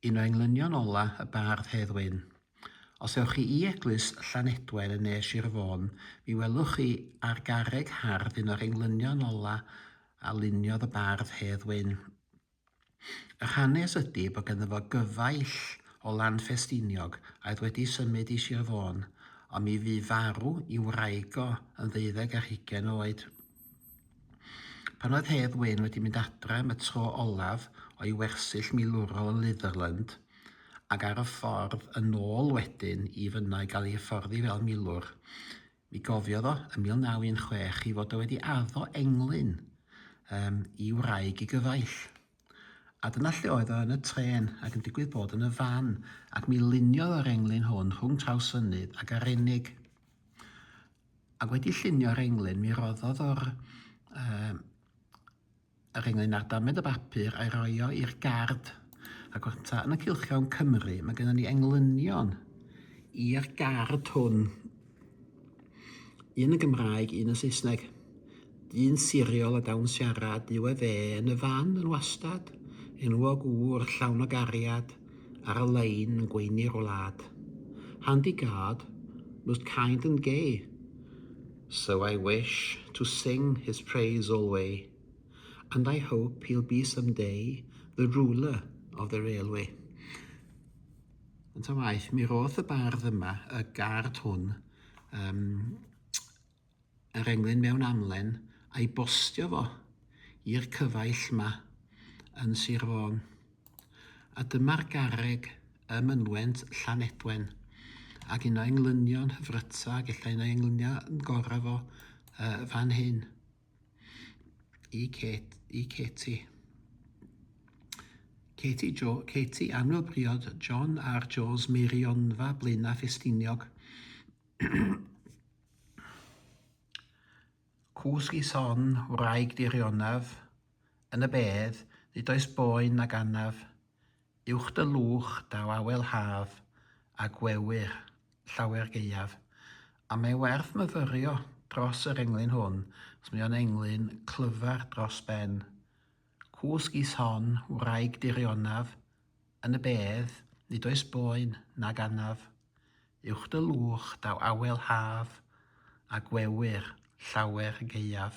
Un o englynion ola y bardd Hedd Wyn. Os ewch chi i eglwys Llanedwen yn ne Sir Fôn, mi welwch chi ar garreg hardd un o'r englynion ola a luniodd y bardd Hedd Wyn. Yr hanes ydy bod ganddo fo gyfaill o Lanffestiniog a oedd wedi symud i Sir Fôn, ond mi fu farw i wraig o yn ddeuddeg ar hugain oed. Pan oedd Hedd Wyn wedi mynd adre am y tro olaf o'i wersyll milwrol yn Litherland, ac ar y ffordd yn ôl wedyn i fynno i gael ei hyfforddi fel milwr, mi gofiodd o, ym 1916, ei fod o wedi addo englyn um, i wraig ei gyfaill. A dyna lle oedd o yn y trên, ac yn digwydd bod yn y fan, ac mi luniodd o'r englyn hwn rhwng Trawsfynydd ac Arenig. Ac wedi llunio'r englyn, mi roddodd o'r um, yr englyn ar damed y bapur a'i roi o i'r gard. Ac o'r ta yn y cilchion Cymru, mae gennym ni englynion i'r gard hwn. Un yn Gymraeg, un yn Saesneg. Dyn siriol a dawn siarad yw efe yn y fan yn wastad, enwog ŵr llawn o gariad, ar y lein yn gweini'r wlad. Handy guard, most kind and gay, so I wish to sing his praise alway, and I hope he'll be some day the ruler of the railway. Yn ta waeth, mi roth y bardd yma, y guard hwn, um, yr englyn mewn amlen a'i bostio fo i'r cyfaill 'ma yn Sir Fôn. A dyma'r garreg ym mynwent Llanedwen, ac un o englynion hyfryta, ac ella un o englynion gorau fo yy fan hyn i Kate, i Katie. Katie, jo, Katie annwyl briod John a'r Joes Meirionfa Blaenau Ffestiniog. Cwsg i son wraig dy rionaf, yn y bedd, nid oes boen nag anaf, uwch dy lwch daw awel haf, a gwewyr, llawer gaeaf. A mae werth myfyrio dros yr englyn hwn, os mae o'n englyn clyfar dros ben. Cwsg i son wraig dy rionaf, yn y bedd, nid oes boen nag anaf. Uwch dy lwch daw awel haf, a gwewyr llawer gaeaf.